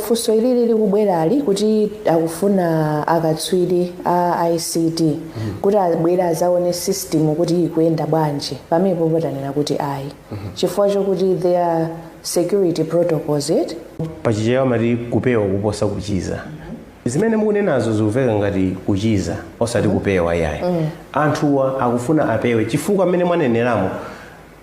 Funso ilili likubwerali kuti akufuna akatswiri a ICT kuti abwere azaone system kuti ikuyenda bwanji pamenepopo tanena kuti ayi chifukwa chokuti there are security protocols eti pachichewa amati kupewa kuposa kuchiza zimene mukunenazo zikuveka ngati kuchiza osati kupewa yayi anthuwa akufuna apewe chifukwa mmene mwaneneramo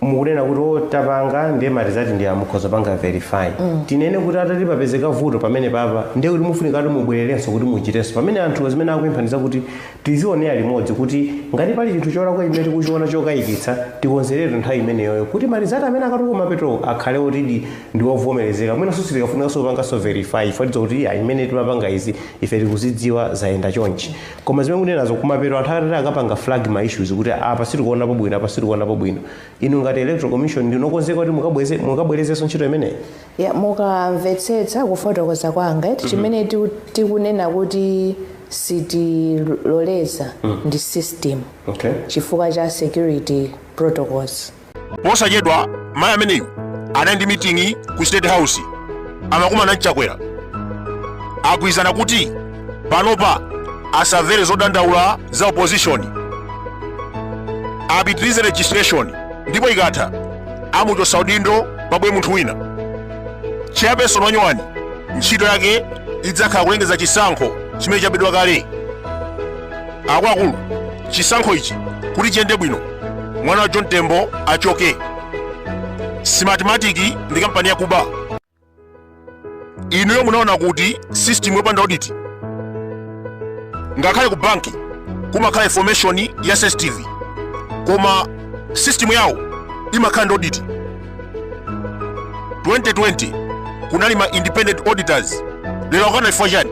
mukunena kuti o tapanga ndiye ma results ndi awa mukhoza panga verify tinene kuti atati papezeka vuto pamenepapa ndiye kuti mufunika kuti mubwererenso kuti muchitenso pamene anthu zimene akuemphasiza kuti tizionera limodzi kuti ngati pali chinthu cholakwa chimene tikuchiona chokayikitsa tikonzeretu nthawi imeneyoyo kuti ma results amene akatuluke kumapeto akhale otidi ndi ovomerezeka mwinanso sitikafunikanso kupanganso verify ifatiza kuti "Iyayi, mmene timapanga izi ife tikuzidziwa zayenda chonchi koma zimene mukunenazo kumapeto anthu atati akapanga flag ma issues kuti apa sitikuonapo bwino apa sitikuonapo bwino inu ngati electoral commission ndinu okonzeka kuti mukabweze mukabwerezenso ntchito imeneyi ya mukamvetsetsa kufotokoza kwanga eti chimene tiku- tikunena kuti sitiloleza ndi system okay chifukwa cha security protocols posachedwa mayi ameneyu anali ndi miting'i ku state house amakumana n'chakwera agwirizana kuti panopa asamvere zodandaula za opposition apitirize registration ndipo ikatha amuchotsa udindo pabwere munthu wina chairperson wanyowani ntchito yake idzakhala kulengeza chisankho chimene chabedwa kale akuluakulu chisankho ichi kuti chiyende bwino mwana wa john tembo achoke smartmatic ndi kampani yakuba inuyo munaona kuti system yopanda audit ngakhale ku banki kumakhala information ya cctv koma system yawo imakhala ndi audit 2020 kunali ma independent auditors lero akukana chifukwa chani